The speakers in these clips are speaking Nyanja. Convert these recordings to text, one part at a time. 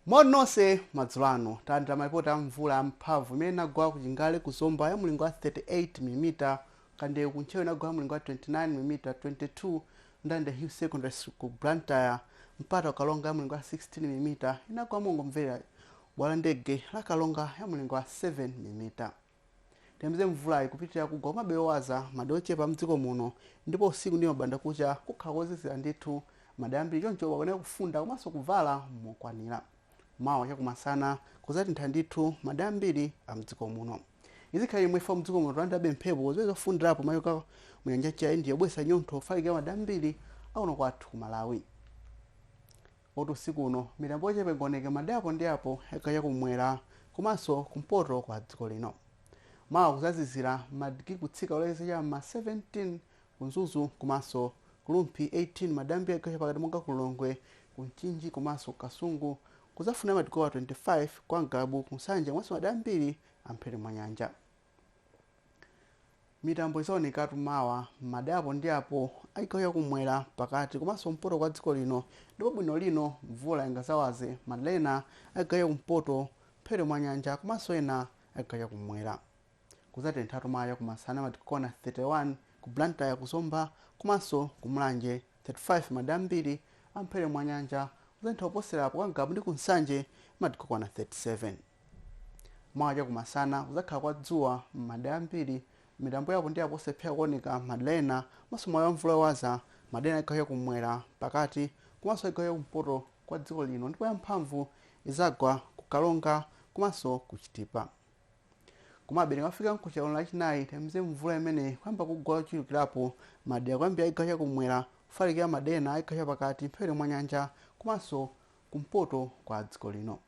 moni nonse madzulo ano talandira malipoti a mvula yamphamvu imene inagwa ku chingale ku zomba ya mlingo wa 38 mm kandewu ku ntcheu inagwa ya mlingo wa 29 mm 22 Ndirande hill secondary School ku blantyre mpata ku Karonga ya mlingo wa 16 mm inagwa mongomverera bwalo la ndege la Karonga ya mlingo wa 7 mm Tiyembekezere mvulayi kupitilira kugwa komabe yowaza, madera ochepa amdziko muno ndipo usiku ndi mabanda kucha kukhala kozizira ndithu madera ambiri choncho tikuyenera kufunda komanso kuvala mokwanira. Mawa chakumasana kuzatentha ndithu madera ambiri amdziko muno. Izi zikhala zili chomwechi chifukwa mdziko muno tikulandilabe mphepo ziwiri zofundirapo zochokera mu nyanja ya India zobweretsa chinyontho kufalikira madera ambiri akuno kwathu ku Malawi. Poti usiku uno mitambo yochepa ingaoneke madera apo ndi apo a chigawo cha kum'mwera komanso kumpoto kwa dziko lino. Mawa kuzazizira madigiri kutsika kulekeza cha m'ma 17 ku Mzuzu komanso ku Rumphi 18 madera ambiri a chigawo chapakati monga ku Lilongwe, ku Mchinji komanso ku Kasungu kuzafunda madigiri okwana 25 kwa Ngabu ku Nsanje komanso madera ambiri a mphepete mwa nyanja. Mitambo izaonekatu mawa madera apo ndi apo a chigawo cha kumwera, pakati komanso kumpoto kwa dziko lino ndipo bwino lino mvula ingazawaze madera ena a chigawo cha kumpoto mphepete mwa nyanja komanso ena a chigawo cha kumwera. Kuzatenthatu mawa chakumasana madigiri okwana 31 ku Blantyre, ku Zomba komanso ku Mulanje, 35 madera ambiri a mphepete mwa nyanja. Kuzatentha kuposera apo kwa Ngabu ndi ku Nsanje madigiri okwana 37. Mawa chakumasana kudzakhala kwa dzuwa m'madera ambiri. Mitambo ya apo ndi apo osalephera kuoneka m'madera ena komanso mwawi wa mvula yowaza m'madera ena chigawo chakum'mwera, pakati komanso chigawo chakumpoto kwa dziko lino ndipo yamphamvu idzagwa ku Karonga komanso ku Chitipa. Komabe tikamafika mkucha uno Lachinayi tiyembekezere mvula imeneyi kuyamba kugwa yochulukirapo m'madera kuyambira chigawo chakum'mwera kufalikira madera ena a chigawo chapakati mphepete mwa nyanja komanso kumpoto kwa dziko lino.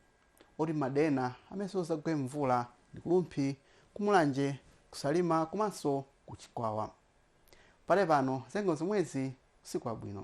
poti m'madera ena amenenso izagwe mvula ndi ku Rumphi, ku Mulanje, ku Salima komanso ku Chikwawa. Pakadali pano zanyengo ndi zomwezi usiku wabwino.